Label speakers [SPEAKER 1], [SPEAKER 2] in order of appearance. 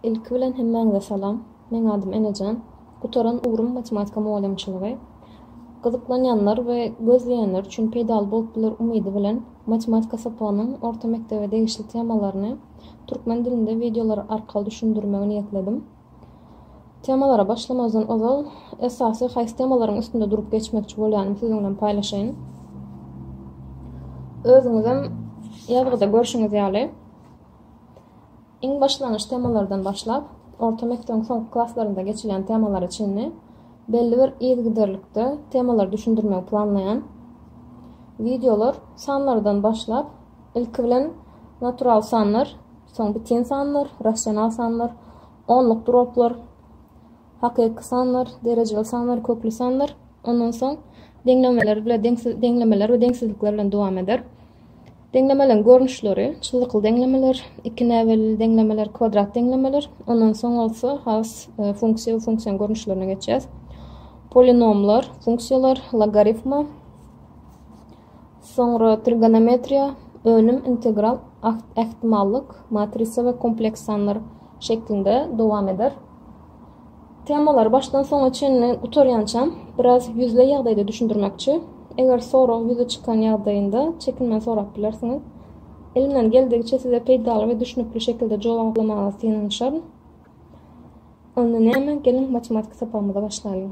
[SPEAKER 1] Ilki bilen hemmäňize salam. Meň adym Enejan. Gutaran ugrum matematika mugallymçylygy. Gyzyklanýanlar we gözleýänler üçin peýdaly bolup biler umydy bilen matematika sapagynyň orta mekdebe degişli temalaryny türkmen dilinde wideolar arkaly düşündirmegi niýetledim. Temalara başlamazdan ozal, esasy haýsy temalaryň üstünde durup geçmekçi bolýanym siziň bilen paýlaşaýyn. Özüňizem ýazgyda görşüňiz ýaly, iň başlangyç temalardan başlap, orta mekdebiň soňky klaslarynda geçilýän temalara çenli belli bir yzygiderlikde temalary düşündirmegi planlaýan. Wideolar sanlardan başlap, ilki bilen natural sanlar, Soň bitin sanlar, rasional sanlar, onluk droplar, hakyky sanlar, derejeli sanlar, kökli sanlar, ondan soň deňlemeler bilen deňsiz deňlemeler we deňsizlikler bilen dowam eder. Deňlemeleň görnüşleri, çyzykly deňlemeler, iki näbelli deňlemeler, kwadrat deňlemeler, ondan soň bolsa has e, funksiýa we funksiýanyň görnüşlerine geçýäs. Polinomlar, funksiýalar, logaritma, Soňra trigonometriýa, önüm integral, ähtimallyk, matrisa we kompleks sanlar şeklinde dowam eder. Temalary başdan soňa çenli gutarýançam biraz ýüzleý ýagdaýda düşündirmekçi. Eger sorag ýüze çykan ýagdaýynda çekinmän sorap bilersiňiz. Elimden geldigiçe size peýdaly we düşnükli şekilde jogaplamaga synanyşaryn. Onda näme, geliň matematika sapagymyza başlaýlyň.